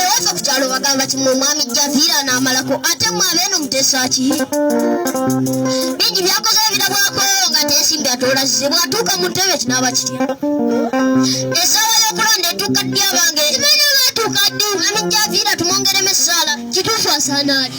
Ewaffe ku kyalo bagamba kimu omwami Javiira n'amalako ate mwe abeeno muteesa ki? Bingi byakoze ebirabwako nga teesimbi atoola zize bw'atuuka mu ntebe kinaaba kirya. Essaawa y'okulonda etuuka ddi abange? Kimanyi oba atuuka ddi? Omwami Javiira tumwongeremu essaala. Kituufu asaana ali.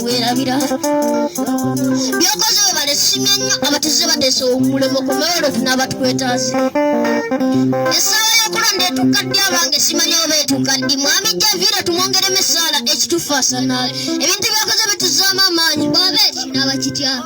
werabira byokoze webale simye nnyo abatuze bateesa omulemo ku mawolofu n'abatwetaasi essaawa y'okulonda etuuka ddi abange simanya oba etuuka ddi mwami javiira tumwongeremu essaala ekituufu asanaala ebintu byokoze bituzaamu amaanyi bwaba ekinaaba kitya